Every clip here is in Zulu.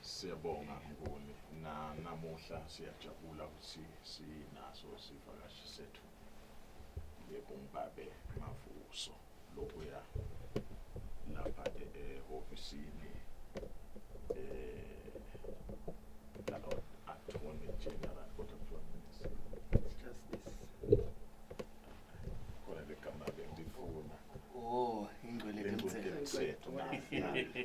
Siyabonga Nguni na namuhla siyajabula ukuthi sinaso sivakashi sethu yebo ngibabe mavuso lokuya lapha ehofisini eh lalo attorney general kodwa kuthiwa Justice. khona legama bengifuna Oh, ingcwele Lengcwele kemthetho. yomthetho, na- na-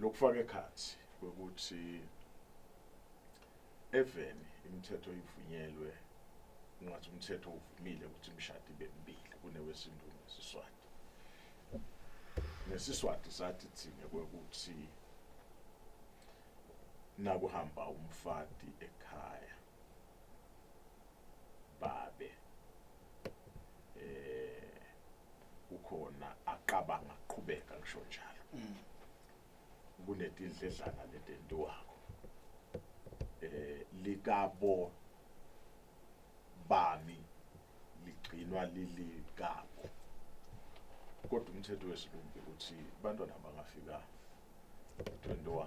lokufaka ekhathi ukuthi even imithetho ivunyelwe ngathi umthetho uvumile ukuthi imishado ibe mibili kunewesintu nesiswati nesiswati sathi thina kwekuthi nakuhamba umfati ekhaya babe eh ukhona acabanga qhubeka ngisho njalo mm. kunetidledlana letento wakho eh likabo bami ligcinwa lilikabo kodwa umthetho wesilungu ukuthi bantwana bangafika 21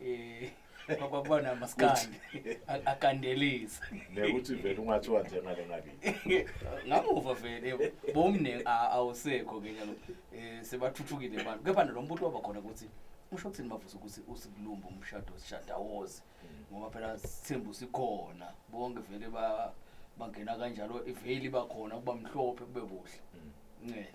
eh kwakubona maskandi akandelisa nekuthi vele ungathiwa njengale ngabi ngamuva vele bomne awusekho ke njalo eh sebathuthukile abantu kepha nalombutho waba khona ukuthi usho ukuthini mavuso ukuthi usikulumba umshado sishadawoze mm. ngoba phela sithembu sikhona bonke vele ba bangena kanjalo iveli bakhona kuba mhlophe kube kuhle mm. ncele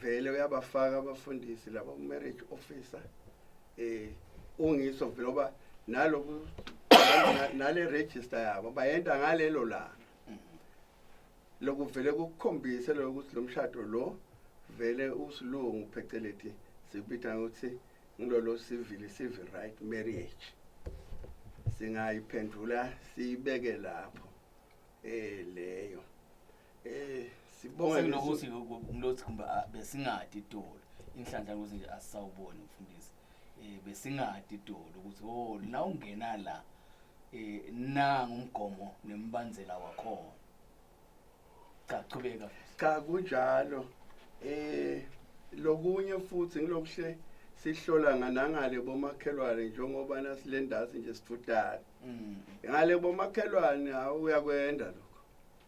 vele uyabafaka abafundisi laba ku-marriage officer eh ungiso vele oba naloku nale register yabo bayenda ngalelo langa lokuvele kukukhombise lokho ukuthi lo mshado lo vele usilungu pheceleti sibitha ukuthi ngilolo civil civil right marriage singayiphendula siyibeke lapho eh leyo Eh sibonga nokuthi umlothi kumbe ah, besingadi idolo. Inhlanhla ukuthi nje asisawuboni mfundisi. Eh besingadi idolo ukuthi oh la ungena la eh na ngumgomo nembandzela wakhona. Cha qhubeka. Cha kunjalo. Eh lokunye futhi ngilokuhle sihlola nganangale bomakhelwane njengoba nasilendazi nje sifudane. Mm. Ngale bomakhelwane awuyakwenda lo.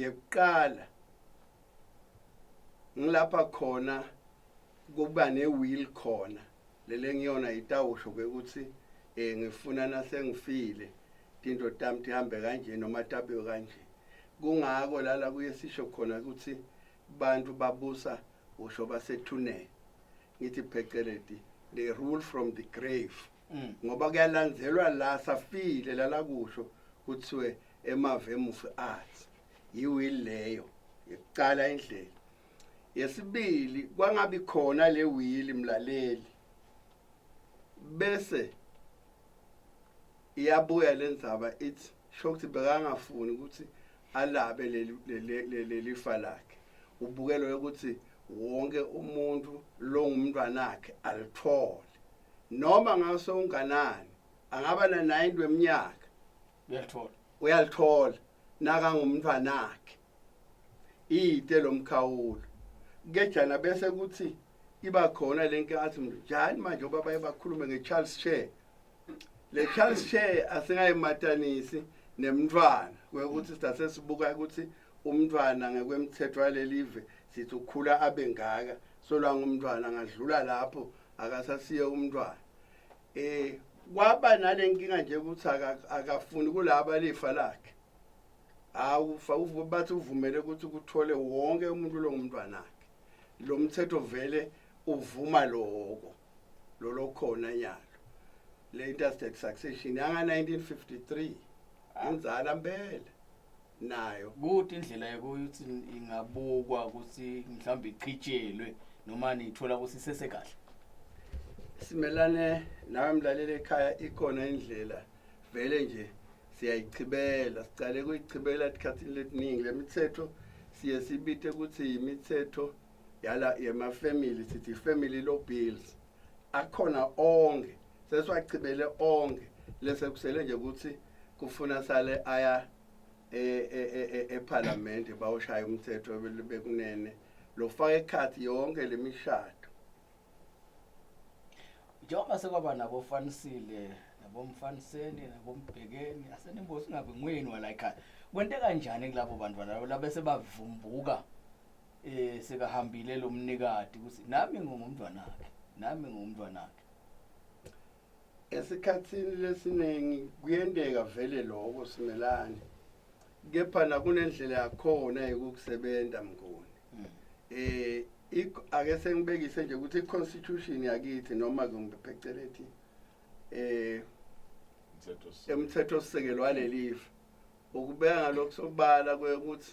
yekuqala ngilapha khona kuba ne-will khona lele ngiyona itawusho ke ukuthi um ngifuna nasengifile tinto tami tihambe kanje noma tabiwe kanje kungako lala kuye sisho khona ukuthi bantu babusa usho basethune ngithi pheceledi they rule from the grave mm. ngoba kuyalandzelwa la safile lala kusho kuthiwe eMavemufi Arts yiwili leyo yokuqala indlela yesibili kwangabi khona le wili mlaleli bese iyabuya le ndzaba ithi sho ukuthi bekangafuni ukuthi alabe leli fa lakhe ubukelo ukuthi wonke umuntu longumntwanakhe alithole noma ngase unganani angaba na-90 weminyaka uyalithola uyalithola nakangumntwana wakhe iyite lomkhawulo kejana bese kuthi iba khona lenke athi njani manje ubaba ebakhulume ngeCharles Chair le Charles Chair asingayimatanisi nemntwana ukuthi sithathe sibuka ukuthi umntwana ngekwemthetho walelive sithi ukhula abe ngaka solanga umntwana ngadlula lapho akasasiye umntwana eh kwaba nalenkinga nje ukuthi akafuni kulaba lifa lakhe awufa bathi uvumele ukuthi kuthole wonke umuntu lo ngumntwanakhe lo mthetho vele uvuma lokho lolo khona nyalo le interstate succession yanga 1953 inzala mpela nayo kuthi indlela yokuthi ingabukwa ukuthi mhlawumbe ichijelwe noma niyithola ukuthi isesekahle simelane nawe mlaleli ekhaya ikhona indlela vele nje siyayichibela sicale kuyichibela esikhathini letiningi le mithetho siye sibite ukuthi yimithetho yala yemafamily sithi family law bills akhona onke sesiwachibele onke lese kusele nje ukuthi kufuna sale aya ephalamende e, e, e, bawushaya umthetho bekunene lofaka ekhathi yonke lemishado njengoba sekwaba nabofanisile nabomfaniseni nabombhekeni asenimbosi ungabe nguyeni wala ekhaya kwente kanjani kulabo bantu balabo labese bavumbuka eh sekahambile lo mnikati ukuthi nami ngingumntwana wakhe nami ngingumntwana wakhe esikhathini lesiningi kuyenteka vele lokho simelane kepha nakunendlela yakhona yokukusebenza mnguni hmm. eh ake sengibekise nje ukuthi i-constitution yakithi noma kumbe phecelezi eh emthethosisekelo walelifa ukubeka lokho sobala ukuthi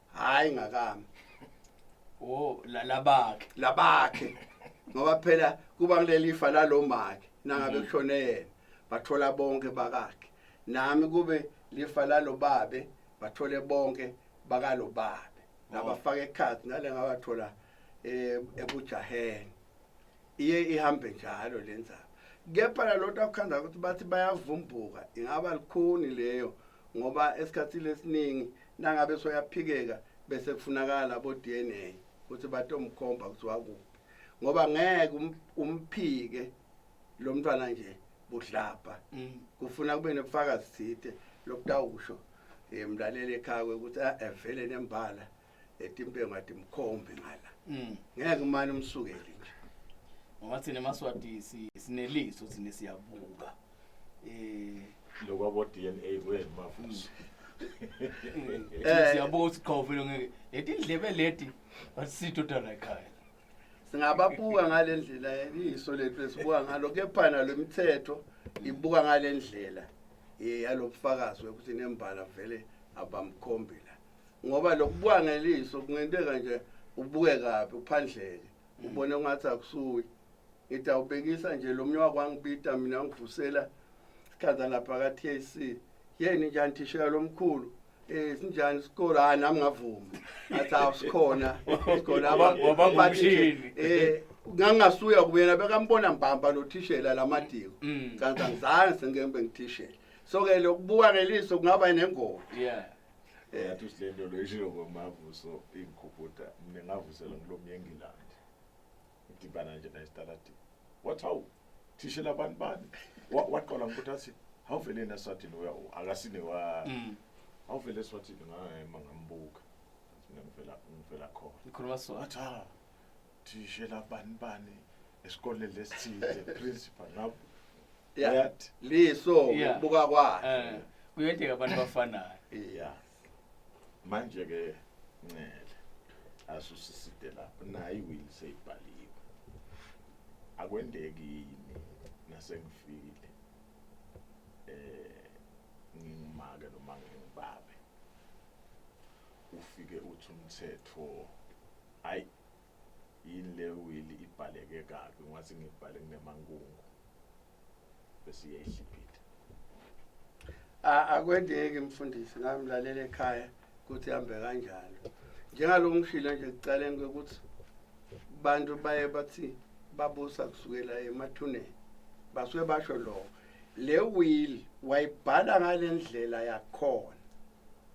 hayi ngakami oh la- labakhe labakhe ngoba phela kuba kulelifa lalomake nangabe Mhm. kushone yena bathola bonke bakakhe nami kube lifa lalobabe bathole bonke bakalobabe Oh. nabafaka ekhathi ngale ngabathola eh, ebujaheni iye ihambe njalo le ndzaba kepha lalota kukhanda ukuthi bathi bayavumbuka ingaba likhuni leyo ngoba esikhathini esiningi nangabe soyaphikeka bese kufunakala bo DNA ukuthi batomkhomba ukuthi wakuphi ngoba ngeke um, umphike lo mntwana nje budlabha mm. kufuna kube nobufakazi thithe lokutawusho eh, mlaleli ekhaya ukuthi ah, evele nembala etimpengo athi mkhombe ngala mm. ngeke umane umsukeli nje ngoba thina maswati sineliso thina siyabuka eh lokwabo DNA kwenu mafuso eh siyabonga ukuthi qhawe vele ngeke leti ndlebe leti basithu dala ekhaya singababuka ngalendlela iso lethu esibuka ngalo kepha nalemithetho ibuka ngalendlela eh, yalobufakazi ukuthi nembala vele abamkhombela ngoba lokubuka ngeliso kungenteka nje ubuke kabi uphandleke ubona ungathi akusuye ngithi awubhekisa nje lo mnye wakwangibida mina ngivusela sikhaza lapha ka-tac yeni njani thishela lo mkhulu Eh sinjani isikole hayi nami ngavuma. Athi awusikhona isikole abangumshini. Eh ngangasuya kuyena bekambona mbamba lo thishela lamadiko. Mm. Kanti angizange sengembe ngithishela. So ke lokubuka ngeliso kungaba nengoma. Yeah. Yathi usilento lo ishilo ngomavuso ingikhubuda mina ngavusela ngilomnye engilandi. Ngidibana nje naye staladini. Wathi hawu thishe labantu bani? Wa- Waqala ngokuthi athi awuvele yena Swatini uya akasine wa Mm. awuvele Swatini ngayema ngambuka. Ngathi mina ngivela ngivela khona. Ngikhuluma sona. Wathi ha thishela bani bani esikoleni lesithile principal ngabo Yeah. yathi Liso Yeah. buka kwakhe. Eh, kuyenteka abantu bafanayo iya manje ke ncele asusiside lapho nayi will seyibhaliwe akwendeki yini nasengifikile eh ngingumake noma ngingibabe ufike uthi umthetho hayi yini le wili ibhaleke kabi ngathi ngibhale kunemankungu bese iyayihlipita akwendeki mfundisi nami lalela ekhaya ukuthi hambe kanjalo njengalo ngishilo nje kucaleni kwekuthi abantu baye bathi babusa kusukela emathuneni basuke basho lokho le will wayibhala ngale ndlela yakhona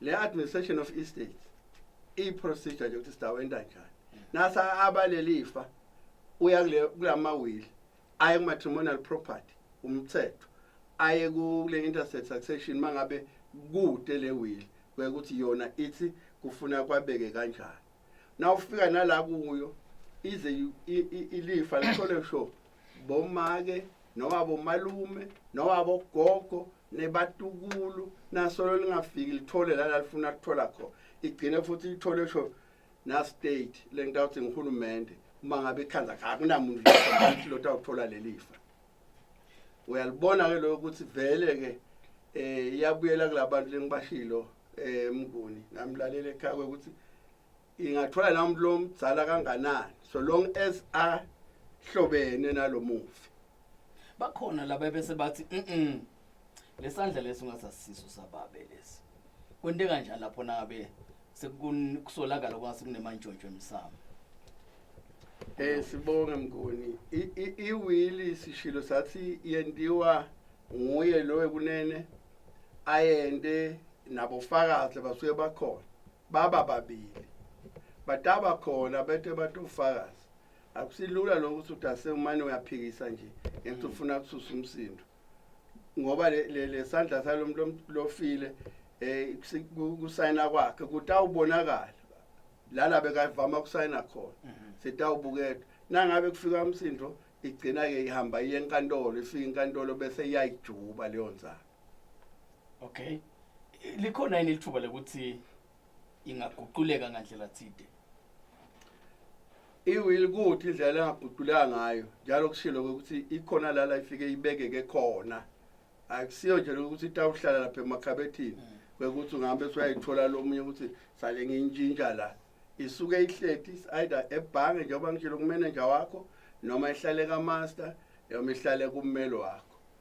le administration of estate i procedure nje ukuthi sidawenda njani nasa abalelifa uya kule kulama will aye ku matrimonial property umthetho aye kule interstate succession mangabe kude le will kuye ukuthi yona ithi kufuna kwabeke kanjani na ufika nala kuyo ize ilifa lithole sho bomake noma bomalume noma bogogo nebatukulu nasolo lingafiki lithole la lalifuna kuthola khona igcine futhi ithole sho na-state le nto awuthi nguhulumende uma ngabe ikhanza akunamuntu lethi lothi awuthola leli fa uyalibona-ke loyo ukuthi vele-ke um iyabuyela kula bantu lengibashilo um mnguni nami lalela ekhaya kwekuthi ingathola noma umuntu lomdzala kanganani so long as ahlobene nalomufi bakhona laba bese bathi mhm lesandla lesi ungasasiso sababe lesi kwente kanjani lapho nabe sekusolakala kwase kunemantshontsho emsamo Eh sibonge mnguni iwili sishilo sathi yentiwa nguye lowe kunene ayende nabofakazi basuke bakhona baba babili bataba khona bete batofakazi akusilula lokho ukuthi uthi asewumane uyaphikisa nje ngenxa ufuna kususa umsindo ngoba lesandla salo muntu lofile eh kusayina kwakhe kutawubonakala lana bekavama kusayina khona mhm. sitawubukela nangabe kufika umsindo igcina ke ihamba iye enkantolo ifika inkantolo bese iyayijuba leyo nzalo okay likhona yini lithuba lokuthi ingaguquleka ngandlela thide iwili kuthi indlela engaguquleka ngayo njalo kushilo ukuthi ikhona la la ifike ibekeke khona akusiyo nje lokuthi itawuhlala lapha emakhabethini mm. kwekuthi ungahambe usuyayithola lomunye ukuthi sale ngiyintshintsha la isuke ihleti either ebhange njengoba ngishilo kumenenja wakho noma ihlale kamaster noma ihlale kummeli wakho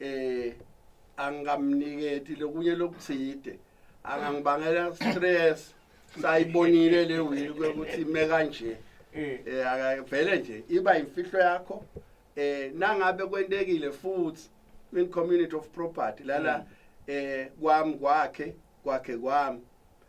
eh angamniketi lokunye lokutsite angangibangela stress sayibonile le wili kwekuthi ime kanje eh, eh akavele nje iba imfihlo yakho eh nangabe kwentekile futhi in community of property lala mm. eh kwami kwakhe kwakhe kwami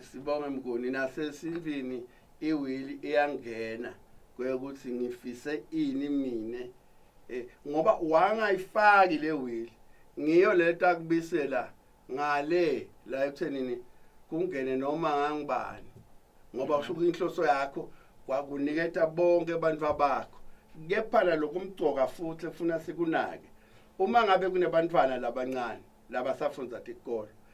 sibonge mnguni nasesintwini iwili iyangena kweyokuthi ngifise ini mina eh, ngoba wangayifaki le wili ngiyo lento akubisela ngale la ekuthenini kungene noma ngangibani ngoba kusho ukuthi inhloso yakho kwakuniketa bonke abantu abakho kepha nalokhu umgcoka futhi efuna sikunake uma ngabe kunebantwana labancane labasafunda tikolo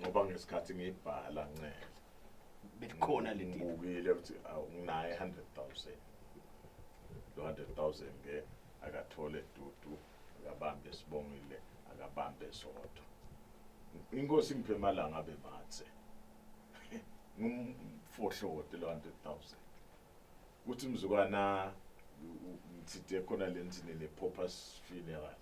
ngoba ngesikhathi ngibhala ncele belikhona le deal ngibukile ukuthi awunayo 100000 lo 100000 ke akathole dudu akabambe sibongile akabambe sodwa inkosi ngiphe malanga abe mathe ngumfohlote lo 100000 kuthi mzukwana ngithide khona lentini le purpose funeral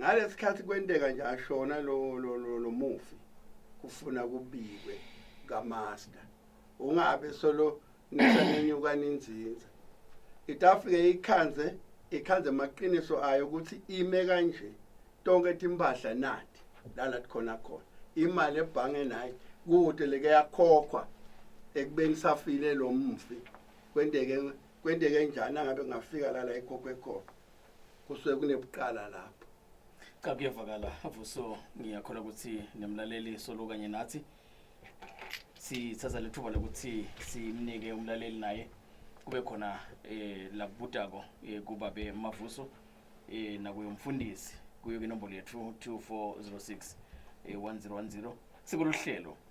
ngalesikhathi kwenteka nje ashona lo lo lo, lo mufi kufuna kubikwe kamaster ungabe solo nisanenyuka ninzinza itafike ikhanze ikhanze amaqiniso ayo ukuthi ime kanje tonke timpahla nathi lala khona khona imali ebhange naye kude leke yakhokhwa ekubeni safile lo mfi kwenteke kwenteke njani angabe ngafika lala ekhokhwe khona kusuke kunebuqala lapho cha kuyavakala vuso ngiyakhola ukuthi nemlaleli solo kanye nathi sithatha lethuba lokuthi simnike umlaleli naye kube khona eh labudako eh, kubabe mavuso eh nakuyo umfundisi kuyo inombolo yethu 2406 eh 1010 sikuluhlelo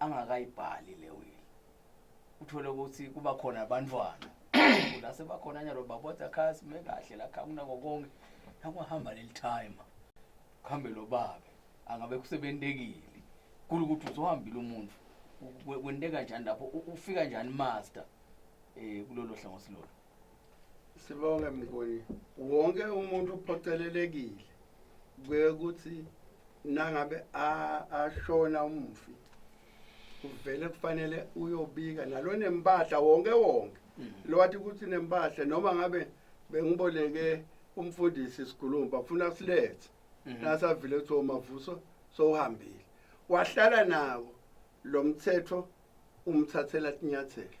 angakayibhali le will uthole ukuthi kuba khona abantwana la sebakhona nyalo babotha khasi me kahle la khakuna kokonke nakuhamba leli time kuhambe lo babe angabe kusebentekile kulu ukuthi uzohambile umuntu kwenteka njani lapho ufika njani master eh kulolo hlangothi lolo Sibonge mnguni. Wonke umuntu uphocelelekile kuye ukuthi nangabe ashona umufi kuvele kufanele uyobika nalo nempahla wonke wonke mm. lo wathi ukuthi nempahla noma ngabe bengiboleke umfundisi sigulumba funa silethe mm-hmm. nasavile ukuthi omavuso sowuhambile wahlala nawo lo mthetho umthathela inyathelo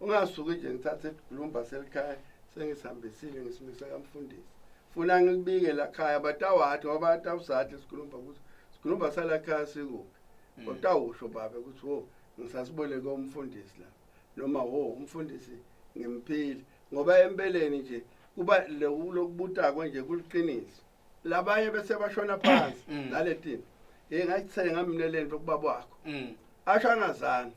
Ungasuki nje ngithathe isilumba selikhaya sengisihambisile ngisimisa kamfundisi. Funa ngikubike la khaya batawathi ngoba atawusathi sikhuluma ukuthi sikhuluma sala khaya sikuphi. Mm. Utawusho baba ukuthi wo ngisasibone komfundisi la noma wo umfundisi ngimphile ngoba empeleni nje kuba lokubuta konje kuliqiniso labanye bese bashona phansi mm. naletini hey ngayithenga mina lento kubaba wakho mm. asho angazange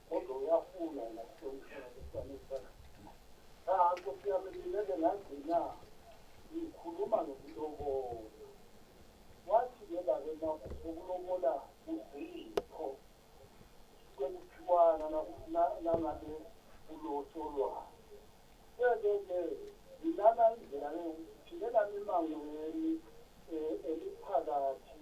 kodwa uyafuna yena kuhlonipheka esifanele sana cha nkosi yami ngileke ngagcina ngikhuluma nokulobola wathi ke bake nakho sokulobola kuzipho kwekuthiwana nangabe ulosolwayo ke ke ngilana indlela le ngithindela imangweni um eliphakathi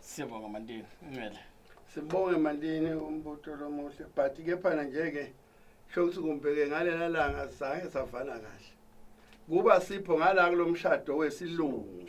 Siyabonga Mandini Ncele. Sibonge Mandini umbutho lomuhle but kepha ngeke shokuthi kumbheke ngalela langa sange savana kahle. Kuba sipho ngala kulomshado wesilungu.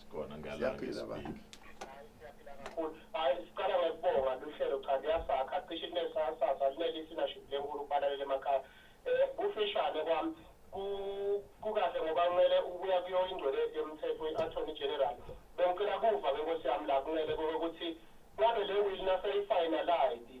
Sikhona ngala. Siyaphila ba. hayi siqala ngokubonga luhlelo cha liyasakha cishe linesasasa linelisinaship lenkulu kubalaleli emakhaya um kufishane kwami ku- kukahle ngoba kumele ukuya kuyo ingcwele yomthetho i-attorney general bengicela kuva ke nkosi yami la kumele kokuthi ngabe le will naseyifinalide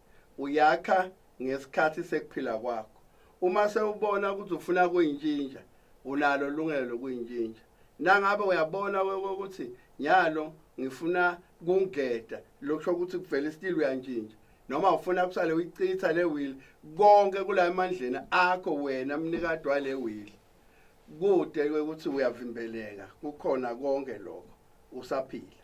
uyakha ngesikhathi sekuphila kwakho uma sewubona ukuthi ufuna kuyintshintsha unalo lungelo lokuyintshintsha nangabe uyabona ukuthi nyalo ngifuna kungeda lokusho ukuthi kuvela isitili uyantshintsha noma ufuna kusale uyichitha le will konke kula emandleni akho wena mnikade wale will kude ukuthi uyavimbeleka kukhona konke lokho usaphila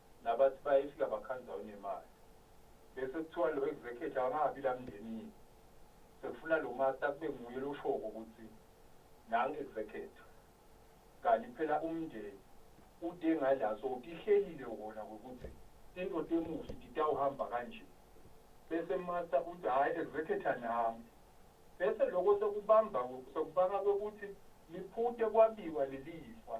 Nabathi bayefika bakhandza unemali. Bese kutsiwa lo executive akangabi la mndenini. Sekufuna lo master kube nguye loshoko kutsi nangu executive. Kanti phela umndeni ute ngala so utihlelile wona kwekutsi tintfo temufi titawuhamba kanje. Bese master utsi hhayi executor nami. Bese loko sekubamba sekubanga kwekutsi liphute kwabiwa lelifa.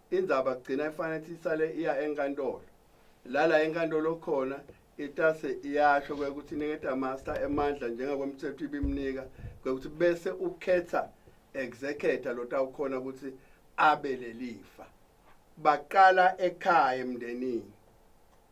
Indzaba kugcina ifanele ukuthi isale iya enkantolo. Lala enkantolo khona itase iyasho kwekuthi iniketa master emandla njengakwemthetho ibimnika kwekuthi bese ukhetha executor lotawukhona ukuthi abe lelifa. Baqala ekhaya emndenini.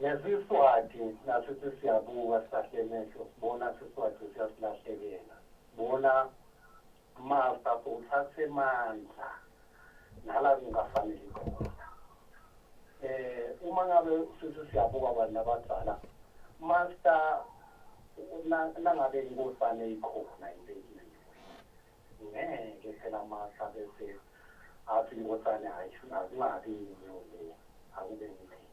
Nesiswati nasithi siyabuka silahle emehlo sibona siswati siyasilahlekela bona masta uthathe mandla nala kungafanele khona eh uma ngabe sithi siyabuka abantu abadala masta nangabe inkosane ikhona impela Ngeke phela masa bese athi inkosane hayi akungabi yini akube ngithini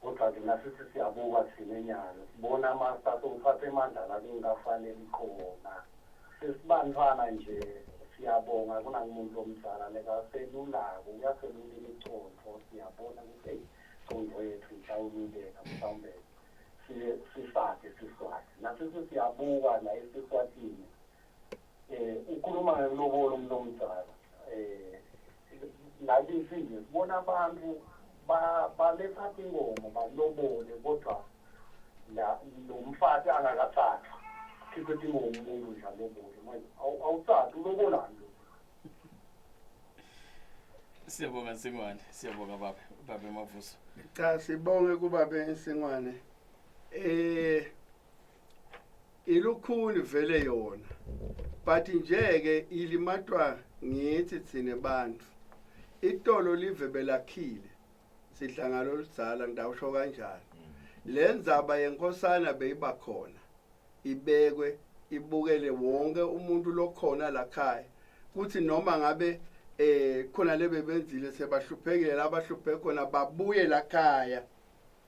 kodwa thina sithi siyabuka thina enyalo sibona amasa sewuthatha emandla la kungafanele khona sesibantwana nje siyabonga kunakumuntu omdala lekaselulako uyaselula imicontho siyabona ukuthi eyi contho yethu ihlawululeka mhlawumbe sisakhe siswati nasisi siyabuka la esiswatini eh ukhuluma ngelobolo umuntu omdala eh nakithi nje sibona abantu baletha inkomo balobole kodwa la nomfati angakathathwa khiphe inkomo umuntu nje alobole manje awuthathi ulobolani Siyabonga Nsingwane, siyabonga baba, baba Mavuso. Cha sibonge kubabe Nsingwane. Eh ilukhuni vele yona. But nje ke ilimatwa ngithi thina bantu. Itolo live belakhile. Sidla ngalo lizala ngidawusho kanjani. Lenzaba yenkosana beyiba khona. ibekwe ibukele wonke umuntu lokhona lakhaya kuthi noma ngabe eh khona lebebenzile sebahluphekile labahlupheke khona babuye lakhaya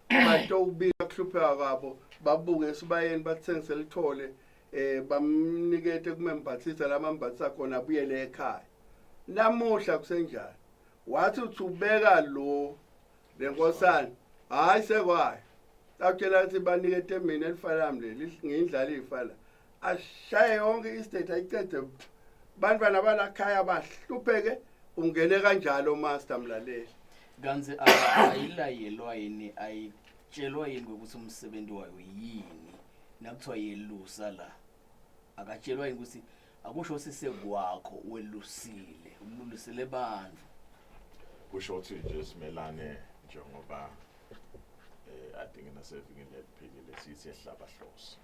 batowubika kuhlupheka kwabo babuke esibayeni bathengise lithole eh bamnikete kumembathisa lamambathisa khona abuyele ekhaya namuhla kusenjani wathi uthi ubeka lo Le nkosana hayi sekwayo sakutshela ukuthi banike etembeni elifanami leli ngiyindlala iy'fana ashaye yonke istate ayicede bantwana balakhaya bahlupheke ungene kanjalo master mlaleli kanti ayilayelwa yini ayitshelwa yini ukuthi umsebenzi wayo yini nakuthiwa yelusa la akatshelwa yini ukuthi akusho sise kwakho welusile ululisele bantu kusho ukuthi nje simelane njengoba eh adinge nasevikini eliphilile sithi ehlaba hloso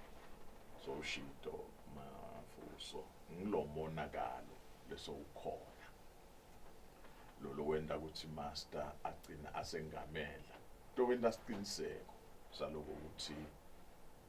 so ushido mafuso ngilomonakalo leso ukhona lolo wenda ukuthi master agcina asengamela to wenda siqiniseko saloko ukuthi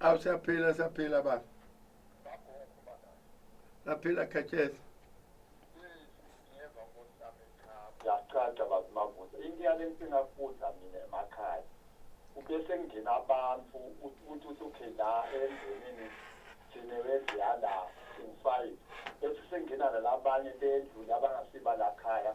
awu siyaphila siyaphila baba laphila khetsheza yacaca bazimavuza into yale nsingafuza mina emakhaya ube sengena abantu ukuthi uthi la endlini thina wendliya la singifayi bese sengena nalabanye bendlu labangasibalakhaya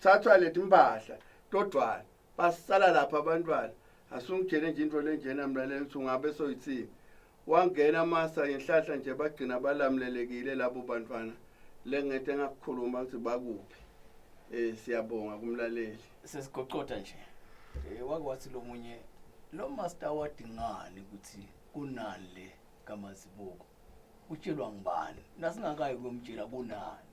thathwa leti mpahla todvwana basala lapha abantwana asungitshele nje into lenjena mina le ukuthi ungabe soyithini wangena amasa ngenhlahla nje bagcina balamlelekile labo bantwana le ngento engakukhuluma ukuthi bakuphi um siyabonga kumlaleli sesiguqoda nje um wake wathi lo munye lo master wadingani ukuthi kunani le kamazibuko utshelwa ngubani nasingakayi kuyomtshela kunani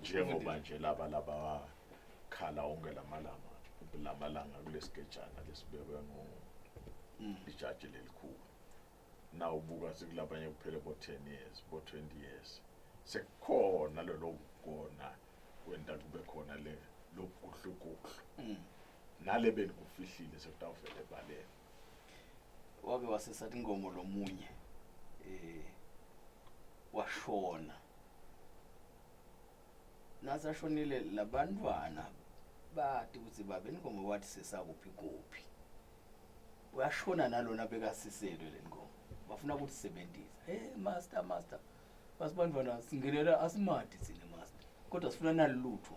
njengoba nje laba laba khala onke lamalanga lamalanga kulesigejana lesibekwe ngo mm. ijaji lelikhulu na ubuka sikulabanye kuphele bo 10 years bo 20 years sekukhona lelo kugona kwenta kube khona le lokuhlukuhlu mm. nale benikufihlile sekutawuvele baleni wake wasesathi ingomo lomunye eh washona nasashonile labantwana bathi ukuthi baba ingomo wathi sesakuphi kuphi uyashona nalona bekasiselwe le ngomo bafuna ukuthi sebenzisa hey master master basibantwana singenela asimadi thina master kodwa sifuna nalutho